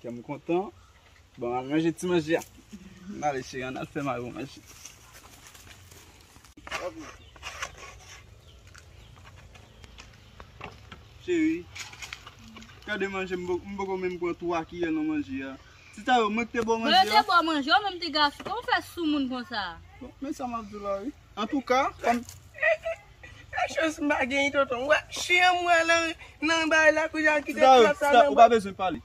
Kè m kontan. Bon, an al manje ti manje a. An ale cheri, an al fè mari w manje. Cheri, gade manje, m poko menm pran 3 kiyè nan manje a. Ti Tayou, mwen k te ba w manje a? Mwen yo te ba w manje, ou menm ti gason, kòman w fè soumoun konsa? Bon, men sa m ap di w la wi. Antouka fanm. Nan chans m pa genyen tonton. Wè chyen an mwen lan nan bay la kounye a kite plat sa nan. Ou pa bezwen pale.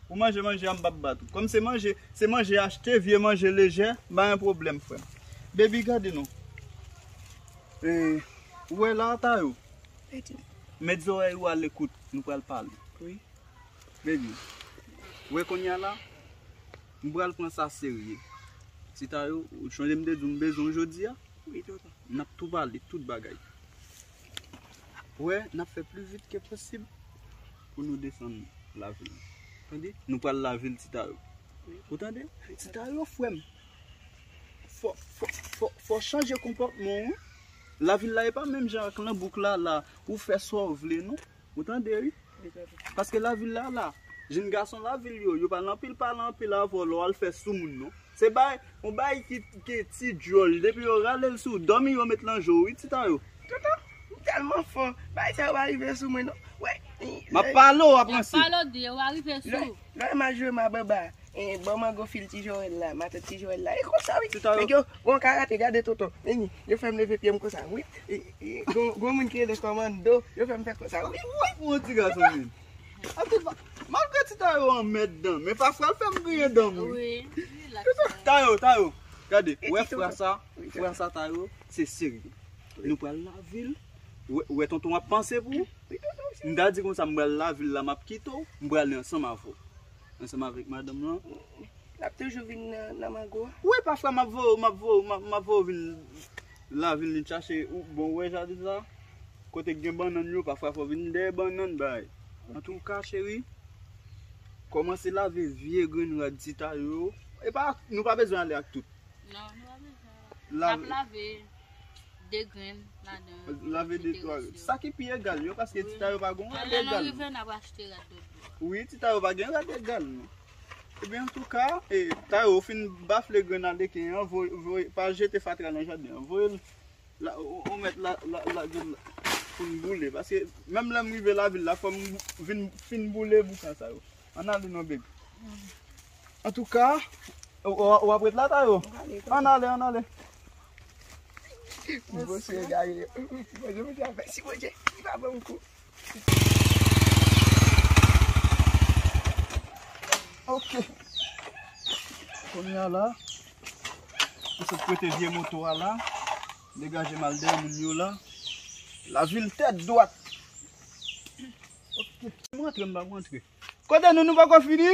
Ou manje manje a m pap bat ou. Kòm se manje, se manje achte, vye manje lejè, m pa gen pwoblèm frè m. Baby gade non. Ou wè la a Tayou? Met zòrèy ou a lekout, nou pral pale. Baby, ou wè kounye a la? M pral pran sa serye. Ti Tayo, ou sonje m te di w m bezwen w jodi a? Wi, tonton. N ap tou pale tout bagay. Ou wè, n ap fè pli vit ke posib pou nou desann lavil. Tande? Nou pral lavil, Ti Tayo. Ou tande? Ti Tayo, frè m, fò, fò, fò, fò w chanje konpòtman w wi. Lavil la e pa menm jan ak Lanbouk la, la. Ou fè sa w vle non. Ou tande wi. Paske lavil la la. Jenn gason lavil yo, yo pa nan pil pale anpil avè w lè w al fè soumoun non. Se bay, yon bay ki gen ti djòl. Depi yo rale l sou w, dòmi yo met nan je w wi ti ta yo. Tonton, ou tèlman fò. Bagay sa yo pa rive sou mwen non. Wè. M ap pale w, w ap ranse. M ap pale w, w ap ranse. Lè w mal jwe m a banba. E bon mango fil ti joel la, matant ti joel la. E konsa wi. Nèg yo gon karate gade tonton. Mimi, yo fèm leve pyem konsa wi. Gon moun ki rele komando, yo fèm fè konsa wi. Ou wap pran ti gason menm. Antouka, malgre ti Tayo an mèt dan, men pafwa l fèm griyen danm wi. Tayo, Tayo, gade, ou wè fra sa, fra sa Tayo, se seri. Nou pral lave l, ou wè tonton ap panse pou ou. M ta di konsa m pral lave l la map kite w, m prale ansanm avè w. Ansanm avèk madanm lan. Lap toujou vin nan mango a. Wi pafwa map voyew map voyew map voyew vin la vin li chache ou bon wè jaden sa kote gen bannann yo pafwa fò vin dèyè bannann bay antouka cheri kòmanse lave vye grenn rad chita yo epa nou pa bezwen ale ak tout nan nou pa bezwen. Nap lave 2 grenn ladan. Lave 2 3 grenn. Sa ki pi egal yo paske ti tayo pa gon rad egal. Lè nou rive nap achte rad dòt bò. Wi ti tayo pa gen rad egal non. Ebyen antouka e tayo ou fin bafle grenn aleken an voye pa jete fatra nan jaden an. Voyel la ou mèt lagel la poun boule paske menm lèm rive lavil la fòm vin fin boule boukan sa yo. Ann ale non baby. Antouka. Ou ap ret la Tayou? Ann ale, ann ale. Ti bosou egare yo. Ti bosou mwen di avèk si Bondye li pa banm kou. Ok. Konya la. Mwen sot prete vye moto a la. Degaje mal deyò moun yo la. La vil tèt dwat. Ok. Mwen antre m pa mwen antre. Kote nou nou poko fini?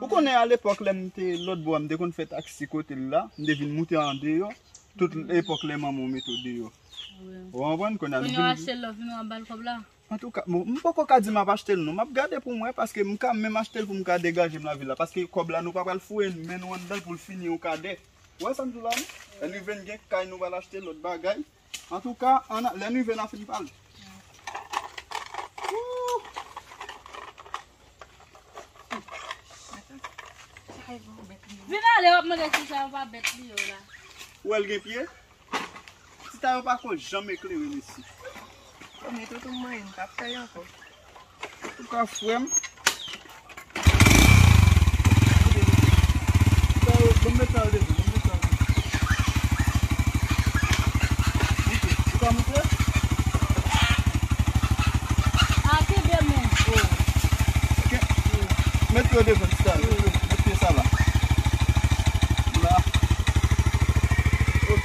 Ou konnen alepòk lè m te lòtbò a, m te konn fè taksi kote l la, m te vin moute andeyò, tout epòk lè manman w mete w deyò. Ou konprann? Kounye a nou vin. Kounye a w achte l la, w vin wè w ap ba l kòb la? Antouka, bon, m poko ka di m ap achte l non. M ap gade pou m wè, paske m ka menm achte l pou m ka degaje m lavil la. Paske kòb la nou pa pral foure men nou anndan l pou l fini yon kadè. Ou wè sa m di w la non? Lè n rive n gen kay nou pral achte lòt bagay, Antouka an lè n rive n ap fin pa l. Vin ale w ap mande si sa yo pa bèt li yo la. Ou wè l gen pye? Ti Tayo pa ko janm eklere mesye. Mete w tou m manyen m pa p fè l ankò. Antouka frèm. Banm met kal devan. Banm met kal devan. Ok. Ou ka moute? A kenbe men. Oh. Ok. Met yo devan ti kal. Met yo. Met pye sa la. La. Ok.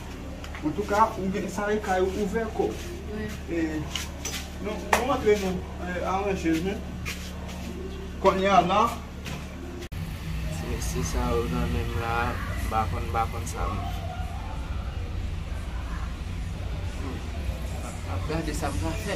Antouka ou gen sa e kay ou ouvè kò. E nou antre nou aranje nou. Kounye a la. Ti mesye sa yo nan menm la m pa konn m pa konn sa m. Map gade sa m ka fè.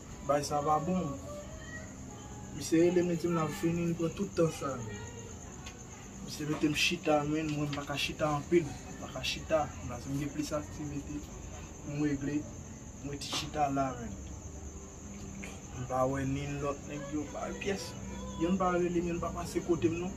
Bay sa pa bon. Misye rele metem la fini li pran tout tan sa. Misye metem chita men mwen mpaka chita anpil. Mpaka chita. Mla sim gen plis aktivite poum regle mwen ti chita la men. Mpa wè nin lòt nèg yo pa pyès. Youn pa relem youn pa pase kotem non.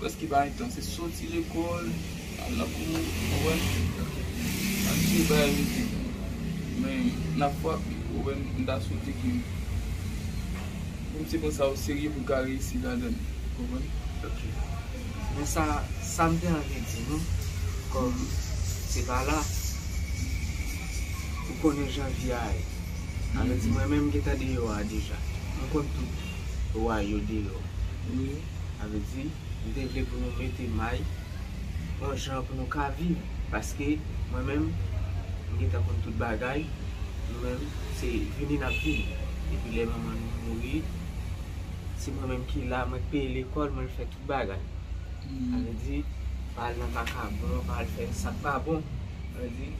Preske pa gen tan, se soti lekòl, al nan kou, ou wè, ak tout bagay rete. Men, nan afwa, ou wè, m ta swete ke pou m se konsa ou serye pou w ka reyisi ladan l. Ou konprann? Ok. Men sa, sa m te anvi di nou, kòm se pa la, ou konnen jan vi a ye. Sa vle di mwen menm m gen tan deyò a deja. M konn tout. Lwa yo deyò. Wi, sa vle di, m te vle pou nou mete may yon jan pou nou ka viv. Paske, mwen menm, m gentan konn tout bagay, nou menm, se vini n ap vini. Depi lè manman nou mouri, se mwen menm ki la, mwen k peye lekòl, mwen k fè tout bagay. Sa vle di, pa al nan vakabon, pa al fè sa k pa bon. Sa vle di.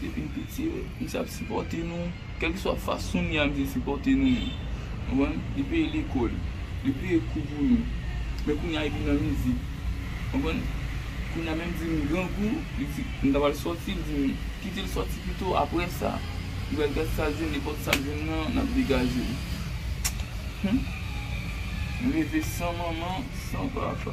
Depi n piti yo misye ap sipòte nou kèlkeswa fason li a misye sipòte nou menm konprann li peye lekòl li peye kou pou nou men kounye a li vin nan mizik konprann kounye a menm di m grangou li di m ta pral sòti li di m kite l sòti pito aprè sa li pral gad sa l jwenn nenpòt sa l jwenn nan l ap degaje l humm m leve san manman san papa.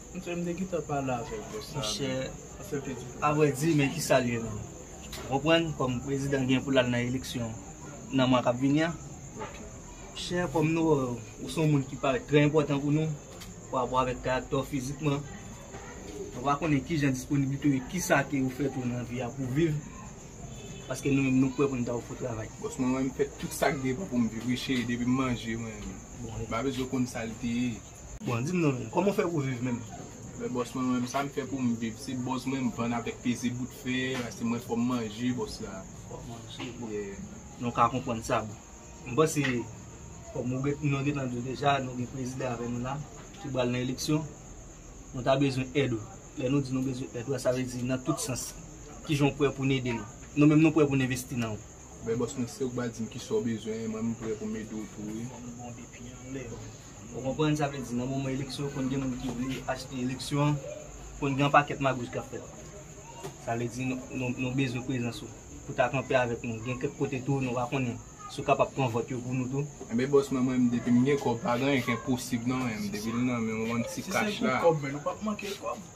Mse m te gentan pale avèk bòs sa Mse avrè di men kisal ye menm ou konprann kòm prezidan gen poul al nan eleksyon nan mwa kap vini an Mse kòm nou wè ou son moun ki parèt trè enpòtan pou nou parapò avèk karaktè ou fizikman nou pa konnen kijan disponiblite ou ye kisa ke ou fè tou nan vi a pou viv paske nou menm nou prè poun ta ofri travay. Bòs mwen wè m fè tout sak depan poum viv wi cheri depim manje mwen m pa bezwen konn sal te ye. Bon dim non menm koman w fè pou viv menm. Mwen bòs mwen menm sam fè poum viv se bòz mwen m vann avèk peze bout fè a se mwen fòm manje bòs la fòm manje bon nou ka konprann sa bon m panse kòm ou gen nou gentan diw deja nou gen prezidan avè nou la ki pral nan eleksyon nou ta bezwen èd ou lè nou di nou bezwen èd ou a sa vle di nan tout sans kijan w prè pou n ede nou nou menm nou prè pou n envesti nan ou. Ben bòs mwen se ou k pral dim kisa w bezwen mwen m prè pou m ede w tou wi. Ou konprann sa vle di nan moman eleksyon konn gen moun ki vle achte eleksyon an, konn gen yon pakèt magouj k ap fèt. Sa vle di nou bezwen prezans ou pou ta kanpe avèk nou. Gen kèk kote tou nou pa konnen si w kapab pran vòt yo pou nou tou. Enben bòs mwen mwen depi m gen kòb pa gen anyen k enposib nan men m depi l nan men m yon ti kach la.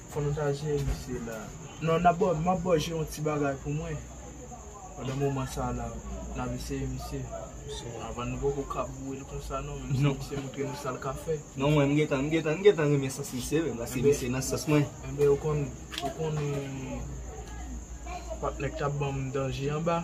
Fò nou ta jere misye la. Non nap baw map baw jwe yon ti bagay pou mwen pandan moman sa la nap eseye misye avan nou poko ka bourel konsa non menm si misye moutre nou sal ka fè non mwen m gentan m gentan m gentan renmen sans misye menm paske misye nan sans mwen enben ou konn ou konnen patnè k tap banm danje anba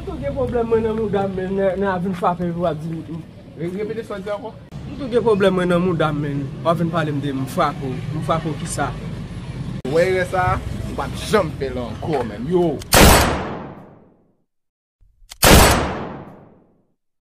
M tou gen pwoblèm mwen nan mouda m men nè a vin frape m wap di m. Repete sa w di ankò. M tou gen pwoblèm mwen nan mouda m men wap vin pale m de m frape w, m frape w kisa? Ou wè erè sa a? Ou pap janm fè l ankò menm yo!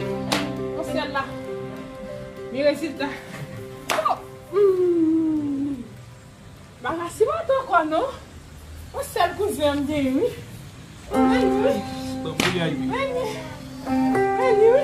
Nan syèl la. Ni rezilta. Marasi pa ta kwa non. Yon sèl kouzen m genyen wi. Mèsi wi. Mèsi wi.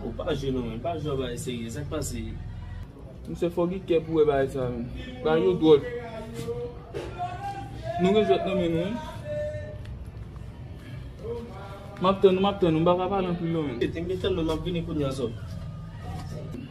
Ou pa jwe non menm, pa jwe bagay serye, sak pase? Misye fò gen kè pou wè bagay sa menm. Bagay yo dwòl. Nou gen jwèt nan men nou wi. Map tann ou, map tann ou. M paka pale anpil non menm. Te m gen tann ou, map vini kounya zòt.